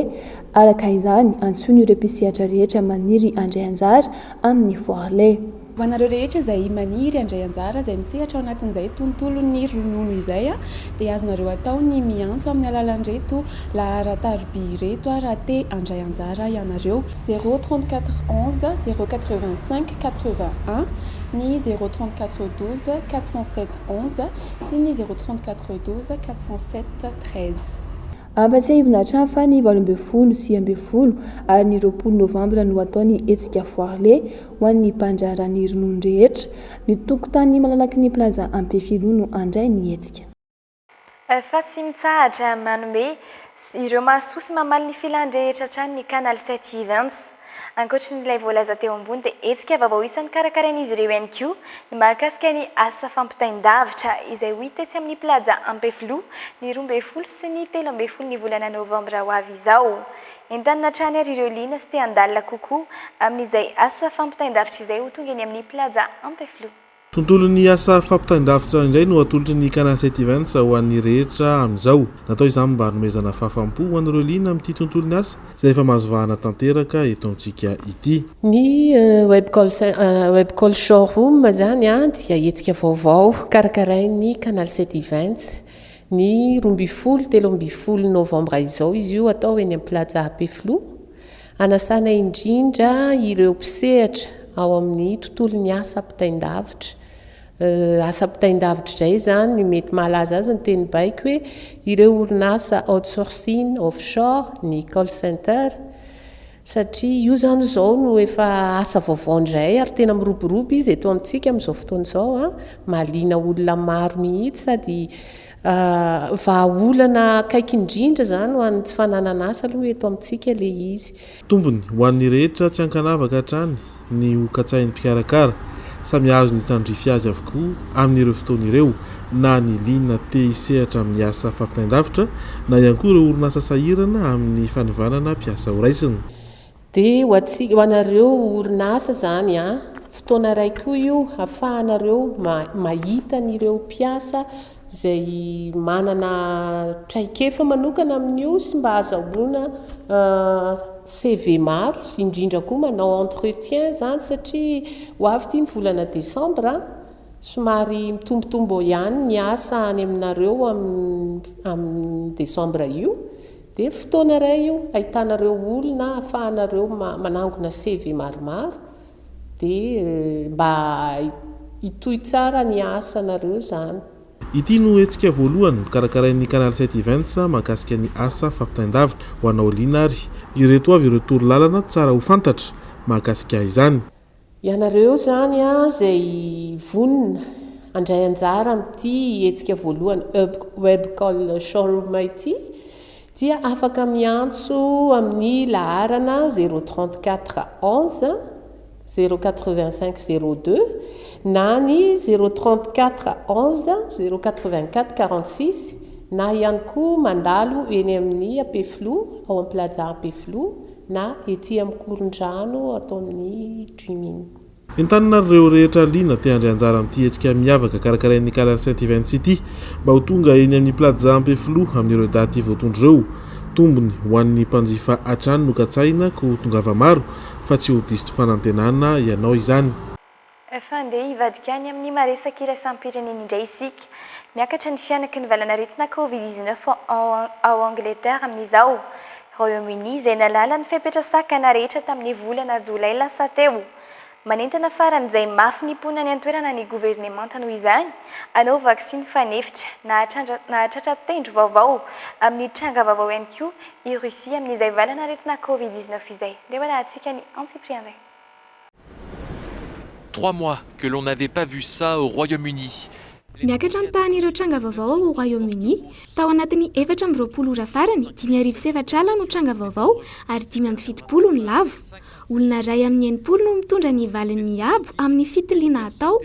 Araka izany, antsoina ireo mpisehatra rehetra maniry handray anjara amin'ny Foire-Lé. Ho anareo rehetra izay maniry handray anjara, izay misehatra ao anatin'izay tontolon'ny ronono izay, dia azonareo atao ny miantso amin'ny alalan'ireto laharan-tarobia ireto raha te handray anjara ianareo, zéro trente quatre onze zéro quatre vingt cinq quatre vingt un, ny zéro trente quatre douze quatre cent sept onze sy ny zéro trente quatre douze quatre cent sept treize. Ampatsiahivina hatrany fa ny valo ambin'ny folo, sivy ambin'ny folo ary ny roapolo novambra no atao ny hetsika Foire Lé Ho an'ny Banja Rani ronono rehetra, ny tokontany malalaky ny Plaza Ampefiloha no handray ny hetsika. Efa tsy mitsahatra manome ireo mahasoa sy mamaly ny filan-drehetra hatrany ny Canal sept Events. Ankoatry ny ilay voalaza teo ambony dia hetsika vaovao isan'ny karakarain'izy ireo ihany koa ny mahakasika ny asa fampitain-davitra izay ho hita etsy amin'ny Plaza Ampefiloha ny roa ambin'ny folo sy ny telo ambin'ny folo ny volana novambra ho avy izao. Entanina hatrany ary ireo liana sy te handalina kokoa amin'izay asa fampitain-davitra izay ho tonga eny amin'ny Plaza Ampefiloha. Tontolon'ny asa fampitain-davitra indray no atolotry ny Canal Site Events ho an'ny rehetra amin'izao. Natao izany mba hanomezana fahafaham-po ho an'ireo liana amin'ity tontolon'ny asa izay efa mahazo vahana tanteraka eto amintsika ity. Ny Webcall Webcall Showroom izany dia hetsika vaovao karakarain'ny Canal Site Events Ny roa ambin'ny folo, telo ambin'ny folo novambra izao izy io atao eny amin'ny Plaza Happy Flow. Hanasana indrindra ireo mpisehatra ao amin'ny tontolon'ny asa ampitain-davitra. Asa ampitain-davitra izay izany, mety mahalaza azy ny teny baiko hoe ireo orinasa outsourcing, offshore, ny call center. satria io izany izao no efa asa vaovao indray ary tena miroborobo izy eto amintsika amin'izao fotoana izao an, mahaliana olona maro mihitsy sady vahaolana akaiky indrindra izany ho an'ny tsy fananana asa aloha eto amintsika ilay izy. Tombony ho an'ny rehetra tsy ankanavaka hatrany ny ho katsahin'ny mpikarakara. Samy hahazo ny tandrify azy avokoa amin'ireo fotoana ireo na ny liana te hisehatra amin'ny asa fampitain-davitra na ihany koa ireo orinasa sahirana amin'ny fanivanana mpiasa ho raisina. Dia ho antsika, ho anareo orinasa izany an! fotoana iray koa io hafahanareo mahita an'ireo mpiasa izay manana traikefa manokana amin'io sy mba azahoana CV maro, indrindra koa manao entretien izany satria ho avy ity ny volana desambra, somary mitombotombo eo ihany ny asa any aminareo amin'io desambra io, dia fotoana iray io ahitanareo olona ahafahanareo manangona CV maromaro. Dia mba hitohy tsara ny asanareo zany. Ity no hetsika voalohany karakarain'ny Canal sept Events mahakasika ny asa fampitain-davitra ho anao liana ary ireto avy ireo toro lalana tsara ho fantatra mahakasika izany. Ianareo izany izay vonona handray anjara amin'ity hetsika voalohany Webcall Showroom ity Dia afaka miantso amin'ny laharana zéro trente quatre onze zéro quatre vingt cinq zéro deux na ny zéro trente quatre onze zéro quatre vingt quatre quarante six na ihany koa mandalo eny amin'ny Ampefiloha ao amin'ny Plaza Ampefiloha na ety amin'ny Korondrano ato amin'ny Dream Inn. Entanina ary ireo rehetra liana te-handray anjara amin'ity hetsika miavaka karakarain'ny Calair Saint Events ity mba ho tonga eny amin'ny Plaza Ampefiloha amin'ireo daty voatondro ireo. Tombony ho an'ny mpanjifa hatrany no katsahina koa tongava maro fa tsy ho diso fanantenana ianao izany. Efa handeha hivadika any amin'ny maha-resaka iraisam-pirenena indray isika. Miakatra ny fihanaky ny valan'aretina Covid dix-neuf ao Angleterre amin'izao. Royaume-Uni izay nahalala ny fepetra sakana rehetra tamin'ny volana jolay lasa teo. Manentana faran'izay mafy ny mponina any an-toerana ny governemanta noho izany hanao vaksiny fanefitra nahatratra tendro vaovao amin'ny tranga vaovao ihany koa i Russie amin'izay valanaretina covid dix-neuf izay. Ndeha ho arahantsika ny antsipiriany. Trois mois que l'on n'avait pas vu ça au Royaume-Uni. Niakatra ny tahan'ireo tranga vaovao ao Royaume-Uni. Tao anatin'ny efatra amby roapolo ora farany, dimy arivo sy efatra ala no tranga vaovao ary dimy amby fitopolo no lavo. Olona iray amin'ny enimpolo no mitondra ny valiny miabo amin'ny fitiliana atao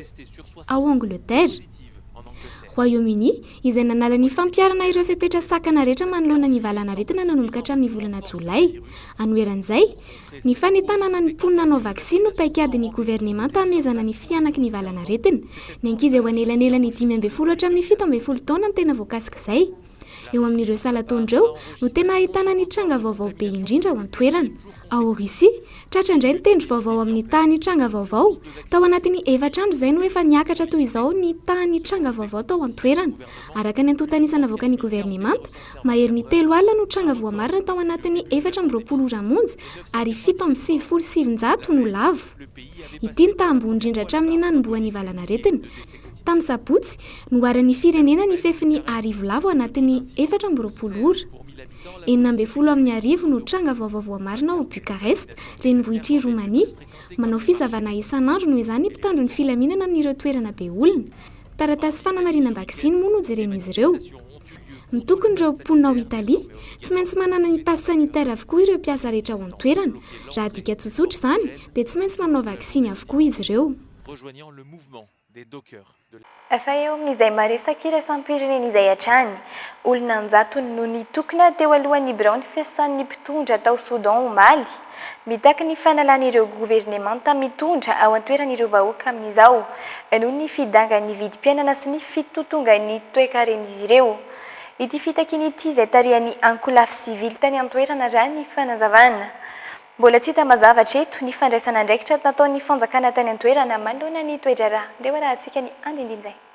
ao Angleterre. Royaume-Uni, izay nanala ny fampiharana ireo fepetra sakana rehetra manoloana ny valanaretina nanomboka hatramin'ny volana Jolay. Anoheran'izay, Ny fanentanana ny mponina hanao vaksiny no paikadin'ny governemanta hamehezana ny fihanaky ny valanaretina. Ny ankizy eo anelanelan'ny dimy ambin'ny folo hatramin'ny fito ambin'ny folo taona no tena voakasik'izay. Eo amin'ireo salan-taona ireo no tena ahitana ny tranga vaovao be indrindra ao an-toerana. Ao Russie, tratra indray ny tendro vaovao amin'ny tahan'ny tranga vaovao. Tao anatin'ny efatra andro izay no efa niakatra toy izao ny tahan'ny tranga vaovao tao an-toerana. Araka ny antontan'isa navoakan'ny governemanta, Maherin'ny telo alina no tranga voamarina tao anatin'ny efatra amby roapolo ora monja ary fito amby sivifolo sy sivinjato no lavo. Ity no taha ambony indrindra hatramin'ny nanombohan'ny valanaretina. Tamin'ny sabotsy, noharan'ny firenena ny fefin'ny arivo lavo ao anatin'ny efatra amby roapolo ora. Enina ambin'ny folo amin'ny arivo no tranga vaovao voamarina ao Bucarest, renivohitr'i Romania. Manao fisavana isan'andro noho izany ny mpitandro ny filaminana amin'ireo toerana be olona. Taratasy fanamarinam-baksiny moa no jeren'izy ireo. Mitokona ireo mponina ao Italia, tsy maintsy manana ny pass sanitaire avokoa ireo mpiasa rehetra ao an-toerana. Raha adika tsotsotra izany, dia tsy maintsy manao vaksiny avokoa izy ireo. Efa eo amin'izay maresaky iraisam-pirenena izay hatrany. Olona an-jatony no nitokona teo alohan'ny biraon'ny fiasan'ny mpitondra tao Soudan omaly. Mitaky ny fanalana ireo governemanta mitondra ao an-toerana ireo vahoaka amin'izao, noho ny fidangan'ny vidim-piainana sy ny fitotongan'ny toekaren'izy ireo. Ity fitakiana ity izay tarihan'ny ankolafy sivily tany an-toerana raha ny fanazavana. Mbola tsy hita mazava hatreto ny fandraisan'andraikitra nataon'ny fanjakana tany an-toerana manoloana ny toe-draharaha. Andeha ho arahantsika ny andinindin'izay.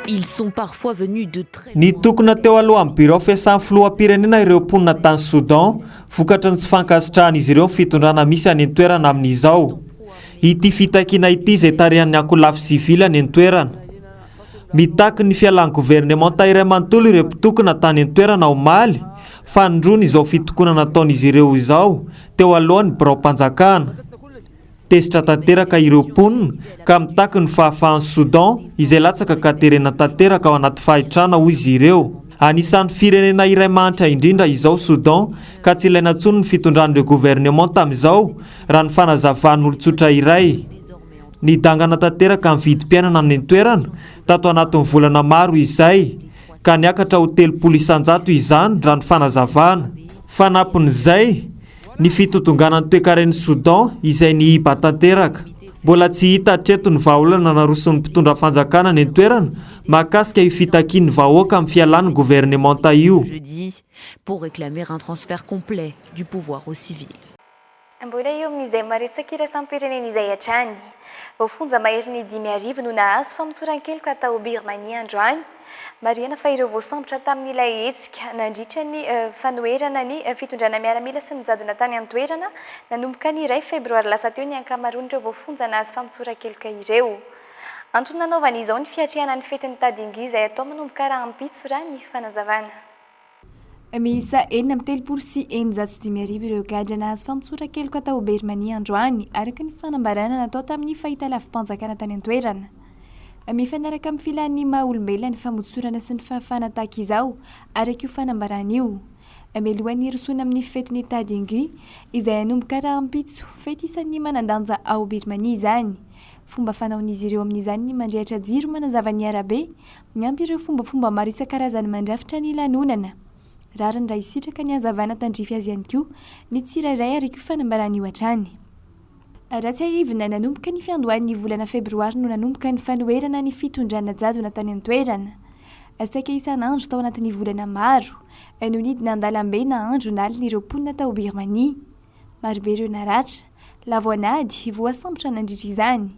Ils sont parfois venus de très loin. Nitokona teo alohan'ny birao fiasan'ny filoham-pirenena ireo mponina tany Soudan vokatry ny tsy fankasitrahan'izy ireo ny fitondrana misy any an-toerana amin'izao ity fitakiana ity izay tarihan'ny ankolafy sivily any an-toerana. Mitaky ny fialan'ny governemanta iray manontolo ireo mpitokona tany an-toerana omaly fanindroany izao fitokonana ataon'izy ireo izao teo alohan'ny biraom-panjakana. Tezitra tanteraka ireo mponina ka mitaky ny fahafahan'i Soudan izay latsaka ka terena tanteraka ao anaty fahitrana, hoy izy ireo. Anisan'ny firenena iray mahantra indrindra izao Soudan ka tsy ilaina intsony ny fitondran'ireo governemanta amin'izao, raha ny fanazavan'olon-tsotra iray. Nidangana tanteraka ny vidim-piainana any an-toerana tato anatin'ny volana maro izay ka niakatra ho telopolo isan-jato izany, raha ny fanazavana. Fanampin'izay. Ny fitotonganan'ny toekaren'i Soudan izay nihiba tanteraka. Mbola tsy hita hatreto ny vahaolana naroson'ny mpitondra fanjakana any an-toerana mahakasika io fitakian'ny vahoaka amin'ny fialan'ny governemanta io. Mbola eo amin'izay maresaka iraisam-pirenena izay hatrany. Voafonja maherin'ny dimy arivo no nahazo famotsoran-keloka tao Birmania androany Marihina fa ireo voasambotra tamin'ilay hetsika nandritra ny fanoherana ny fitondrana miaramila sy ny jadona tany an-toerana, nanomboka ny iray febroary lasa teo ny ankamaroan'ireo voafonja nahazo famotsoran-keloka ireo. Antony nanaovany izao ny fiatrehana ny fetin'ny Tadingi izay atao manomboka rahampitso, raha ny fanazavana. Miisa enina amby telopolo sy eninjato sy dimy arivo ireo gadra nahazo famotsoran-keloka tao Birmania androany, araka ny fanambarana natao tamin'ny fahitalavi-panjakana tany an-toerana. Mifanaraka amin'ny filàn'ny maha olombelona ny famotsorana sy ny fahafahana tahaka izao, araka io fanambarana io. Mialoha ny hirosoana amin'ny fetin'ny Tha Dingri, izay hanomboka rahampitso, fety isan'ny manan-danja ao Birmania izany. Fomba fanaon'izy ireo amin'izany ny mandrehitra jiro manazava ny arabe, Niampy ireo fombafomba maro isan-karazany mandrafitra ny lanonana. Rariny raha hisitraka ny hazavana tandrify azy ihany koa ny tsirairay ary koa fanambaran'io hatrany. Raha tsiahivina, nanomboka ny fiandohan'ny volana febroary no nanomboka ny fanoherana ny fitondrana jadona tany an-toerana. Saika isan'andro tao anatin'ny volana maro no nidina an-dalambe na andro na alina ireo mponina tao Birmania. Marobe ireo naratra, lavo an'ady, voasambotra nandritra izany.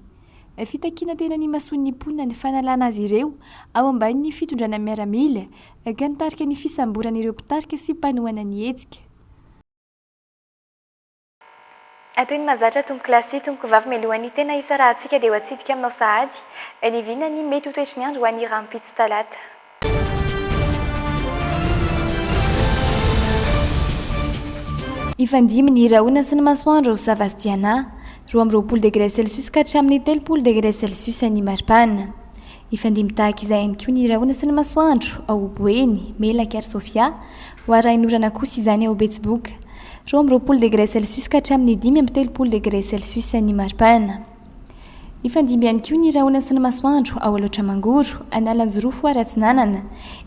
Fitakiana teny amin'ny mason'ny mponina ny fanalana azy ireo ao ambanin'ny fitondrana miaramila, ka nitarika ny fisamborana ireo mpitarika sy mpanohana ny hetsika. Atoy ny mahazatra tompoko lahy sy tompoko vavy mialohan'ny tena hisarahantsika dia ho atsidika aminao sahady ny vina ny mety ho toetry ny andro ho an'ny rahampitso talata. Hifandimby ny rahona sy ny masoandro ao Savasdiana, roa amby roapolo degré celsius ka hatramin'ny telopolo degré celsius ny maripana. Hifandimby tahaka izay ihany koa ny rahona sy ny masoandro ao Boeny, Melaky ary Sofia, ho arahin'orana kosa izany ao Betsiboka, roa amby roapolo degré celsius ka hatramin'ny dimy amby telopolo degré celsius ny maripana. Hifandimby ihany koa ny rahona sy ny masoandro ao Alaotra Mangoro, Analanjirofo ary Atsinanana,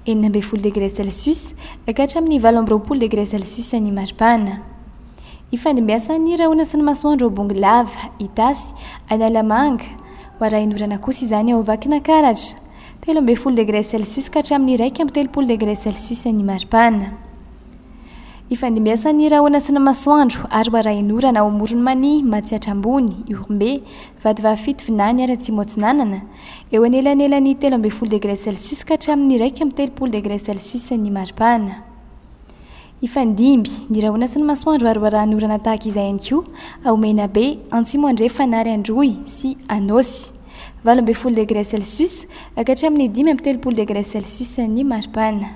enina ambin'ny folo degre celsius ka hatramin'ny valo amby roapolo degre celsius ny mari-pana. Ifandimbiasan' ny rahona sy ny masoandro ao Bongolava, Itasy, Analamanga, ho arahin'orana kosa izany ao Vakinankaratra, telo ambin'ny folo degre celsius ka hatramin'ny iraika amby telopolo degre celsius ny mari-pana. Ifandimbiasan'ny rahona sy ny masoandro ary warahin'orana ao Amoron'i Mania, Matsiatra Ambony, Ihorombe, Vatovavy-fito Vinany ary Atsimo Atsinanana, eo anelanelan'ny telo ambin'ny folo degre celsius ka hatramin'ny iraika amby telopolo degre celsius ny maripana. Ifandimby ny rahona sy ny masoandro ary warahin'orana tahaka izay ihany koa ao Menabe, Antsimo Andrefana ary Androy sy Anôsy, valo ambin'ny folo degre celsius ka hatramin'ny dimy amby telopolo degre celsius ny maripana.